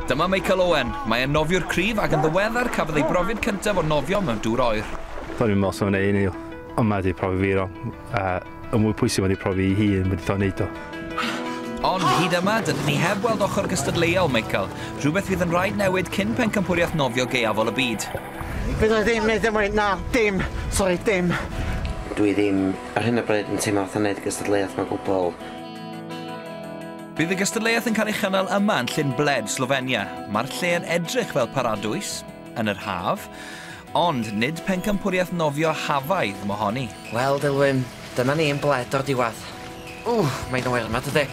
Dyma Michael Owen. Mae e'n nofiwr cryf ac yn ddiweddar cafodd ei brofiad cyntaf o nofio mewn dŵr oer. Do'n i'n meddwl sef yna un i yma wedi profi fi ro, a y mwy pwysig wedi profi i hun wedi ddo wneud o. Ond hyd yma, dydyn ni heb weld ochr gystadleuol Michael, rhywbeth fydd yn rhaid newid cyn pencampwriaeth nofio gaeafol y byd. Fydda i ddim yn neud e mwy, na, dim, sori, dim. Dwi ddim ar hyn o bryd yn teimlo fatha neud y gystadleuaeth ma gwbwl. Bydd y gystadleuaeth yn cael ei chynnal yma yn Llyn Bled, Slofenia. Mae'r lle yn edrych fel paradwys yn yr haf, ond nid pencampwriaeth nofio hafaidd mo honi. Wel, Dilwyn, dyna ni yn Bled o'r diwedd. Ww, mae'n oer yma, dydy.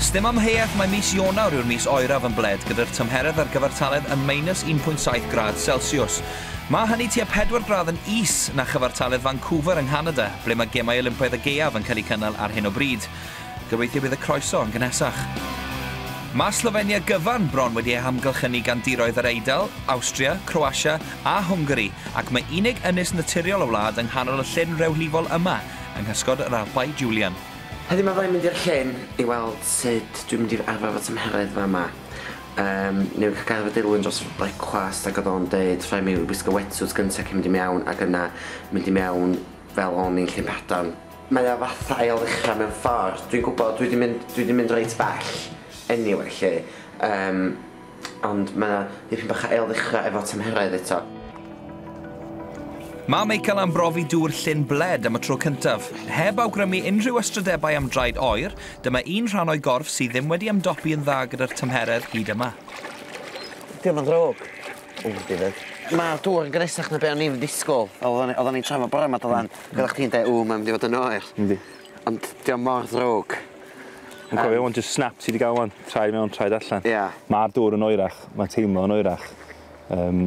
Sdim amheuaeth mae mis Ionawr yw'r mis oeraf yn Bled gyda'r tymheredd ar gyfartaledd yn minus 1.7 gradd Celsius. Mae hynny tua pedwar gradd yn is na chyfartaledd Vancouver yng Nghanada, ble mae Gemau Olympaidd y Gaeaf yn cael eu cynnal ar hyn o bryd. Gobeithio bydd y croeso yn gynhesach. Mae Slofenia gyfan bron wedi ei hamgylchynu gan diroedd yr Eidal, Awstria, Croatia a Hwngari, ac mae unig ynys naturiol y wlad yng nghanol y llyn rewlifol yma, yng nghysgod yr Alpau Julian. Heddiw mae rhaid mynd i'r llyn i weld sut dwi'n mynd i arfer fy tymheredd fama. Yym newn ni ca'l gair efo Dilwyn dros brecwast ag o'dd o'n deud rhai' mi wisgo wetsuit gynta cyn mynd i mewn ag yna mynd i mewn fel o'n i'n Llyn Padarn. Mae o fatha ail ddechra mewn ffor, dwi'n gwbod dwi 'di mynd dwi 'di mynd reit bell eniwe 'lly yym ond mae o dipyn bach o ail ddechra efo tymheredd eto. Mae Michael am brofi dŵr Llyn Bled am y tro cyntaf. Heb awgrymu unrhyw ystrydebau am draed oer, Dyma un rhan o'i gorff sydd ddim wedi ymdopi yn dda gyda'r tymheredd hyd yma. Dio ddim yn ddrwg. Ww dim byd. Ma'r dŵr yn gynnesach na be o'n i'n disgwl. Fel o'n i oddan ni'n trafod bore ma do lan. Hmm. Gyda chdi'n deu ww mae'n mynd i fod yn oer. Yndi. Ond dio mor ddrwg. Yn cofio wan jyst snap ti di ga'l wan. Traed mewn traed allan. Ia. Ma'r dŵr yn oerach. Ma'n teimlo yn oerach. Yym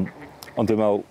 ond dwi'n me'wl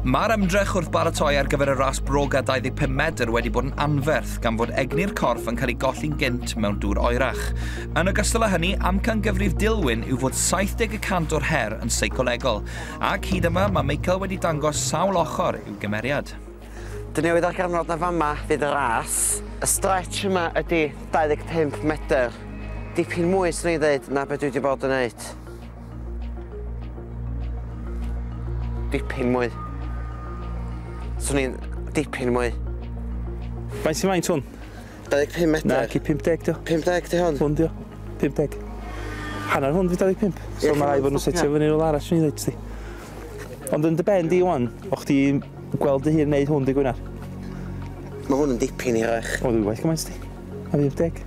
Mae'r ymdrech wrth baratoi ar gyfer y ras broga 25 medr wedi bod yn anferth gan fod egni'r corff yn cael ei golli'n gynt mewn dŵr oerach. Yn ogystal â hynny, amcan gyfrif Dilwyn yw fod 70 y cant o'r her yn seicolegol, ac hyd yma mae Michael wedi dangos sawl ochr i'w gymeriad. Dyn ni wedi darganfod na fama fydd y ras. Y stretch yma ydy 25 medr, dipyn mwy swn i'n ddeud na be dwi wedi bod yn wneud. Dipyn mwy. Swn i'n dipyn mwy. Faint sy'n faint hwn? 25 metr. Na, ci 50 dio. 50 di hwn? Hwn dio. 50. Hanner hwn di 25. So yeah, mae rai fod nhw'n setio fyny rhywle arall swn i'n dweud ti. Ond yn dy ben di wan, o chdi gweld dy hun neud hwn di Gwynar. Mae hwn yn dipyn i rech. O, dwi'n well gymaint di. A 50.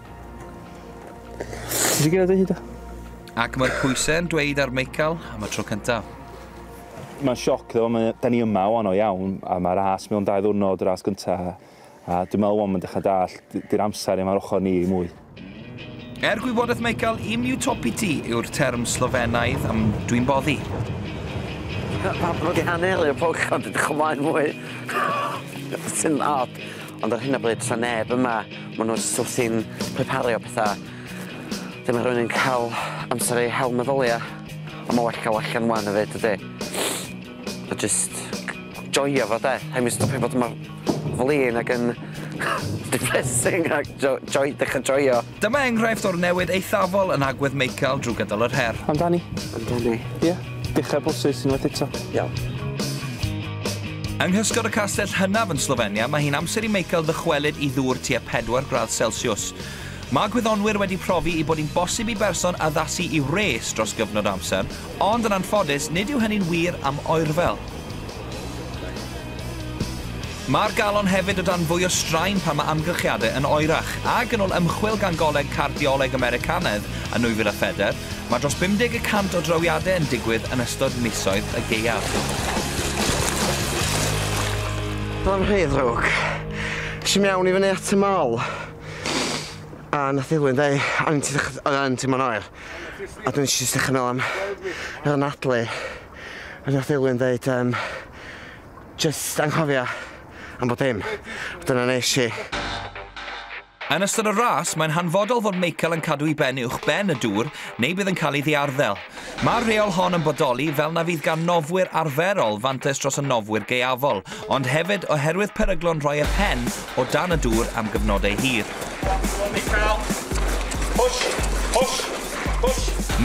Ti'n gwneud hyd o? Ac mae'r pwysau yn dweud ar Michael am y tro cyntaf. Mae'n sioc ddo, mae, da ni yma o'n o iawn, a mae ras mewn dau ddwrnod, ras gyntaf, a dwi'n meddwl o'n mynd eich dall, di'r amser yma'r ochr ni mwy. Er gwybodaeth Michael, im utopity yw'r term Slofenaidd am dwi'n boddi. Mae wedi hanelu y pwch ond ydych chymlaen mwy. Sy'n od. Ond ar hyn o bryd, tra neb yma, maen nhw'n sort i'n prepario pethau. Dyma rhywun yn cael amser ei hel meddyliau. Ond mae well cael allan wan o fyd, ydy. A just joio fo, de. Heb mynd stopio fod yma flin ac yn depressing ac jo, joy, dechrau joio. Dyma enghraifft o'r newid eithafol yn agwedd Meical drwy gydol yr her. Amdani. Amdani. Ie. Dechra broses unwaith eto. Iawn. Yng nghysgod y castell hynaf yn Slofenia, mae hi'n amser i Meical ddychwelyd i ddŵr tua 4 gradd Celsiws. Mae gwyddonwyr wedi profi i bod hi'n bosib i berson addasu i wres dros gyfnod o amser, ond yn anffodus, nid yw hynny'n wir am oerfel. Mae'r galon hefyd o dan fwy o straen pan mae amgylchiadau yn oerach, ac yn ôl ymchwil gan Goleg Cardioleg Americanaidd yn 2004, mae dros 50 y cant o drawiadau yn digwydd yn ystod misoedd y gaeaf. Dyma'n rhy ddrwg. Es i mewn i fyny at y mall, a nath Dilwyn deu, o'n i'n t- oedd yn teimlo'n oer, a dwi'n jyst dechrau meddwl am yr anadlu, a nath Dilwyn ddeud yym Jyst anghofio am bob dim, a dyna wnes i. Yn ystod y ras, mae'n hanfodol fod Michael yn cadw i ben uwch ben y dŵr neu bydd yn cael ei ddiarddel. Mae'r rheol hon yn bodoli fel na fydd gan nofwyr arferol fantais dros y nofwyr gaeafol, ond hefyd oherwydd peryglon rhoi y pen o dan y dŵr am gyfnodau hir.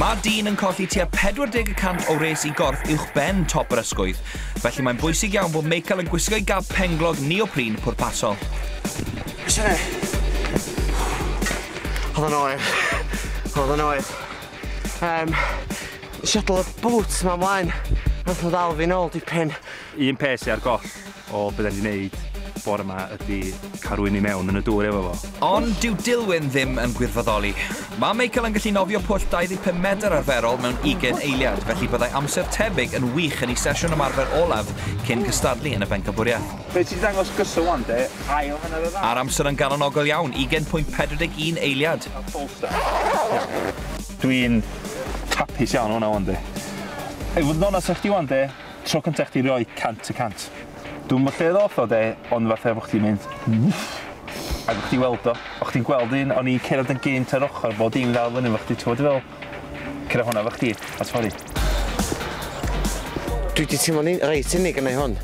Mae dyn yn colli tua 40 y cant o wres i gorff uwchben top yr ysgwydd, felly mae'n bwysig iawn bod Meical yn gwisgo'i gab penglog neoprene pwrpasol. Be sy'n neud? Oedd o'n oer. Oedd o'n oer. Yym, nes i adal y bŵt 'ma mlaen, nath o ddal fi'n ôl dipyn. Un peth sy ar goll o be da ni 'di neud bore ma ydi cael rhywun i mewn yn y dŵr efo fo. Ond dyw Dilwyn ddim yn gwirfoddoli. Mae Michael yn gallu nofio pwll 25 medr arferol mewn ugain eiliad, felly byddai amser tebyg yn wych yn ei sesiwn ymarfer olaf cyn cystadlu yn y Bencampwriaeth. Be ti 'di dangos gyson wan de, ail hanner y ddau. A'r amser yn galonogol iawn, ugain pwynt pedwar deg un eiliad. Dwi'n hapus iawn o hwnna wan de. I fod yn onast efo chdi wan de, Tro cynta i chdi roi cant y cant. Dwi'm yn gwbod lle ddoth o 'de, ond fatha bo' chdi'n mynd wff! Ag o' chdi'n weld o, o' chdi'n gweld un, o'n i'n cerdded yn gynt ar ochor fo, o'dd dim dal i fyny efo chdi, t'mod dwi feddwl? Cera honna efo chdi, a sori. Dwi 'di teimlo'n u- reit unig gennai hwn.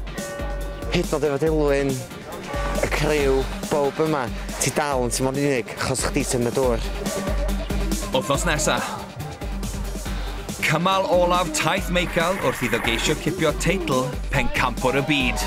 Hyd yn o'd efo Dilwyn Y criw, bowb yma, ti dal yn timlo'n unig achos chdi sydd yn y dŵr. Wthnos nesa. Cymal olaf taith Meical wrth iddo geisio cipio teitl Pencampwr y Byd.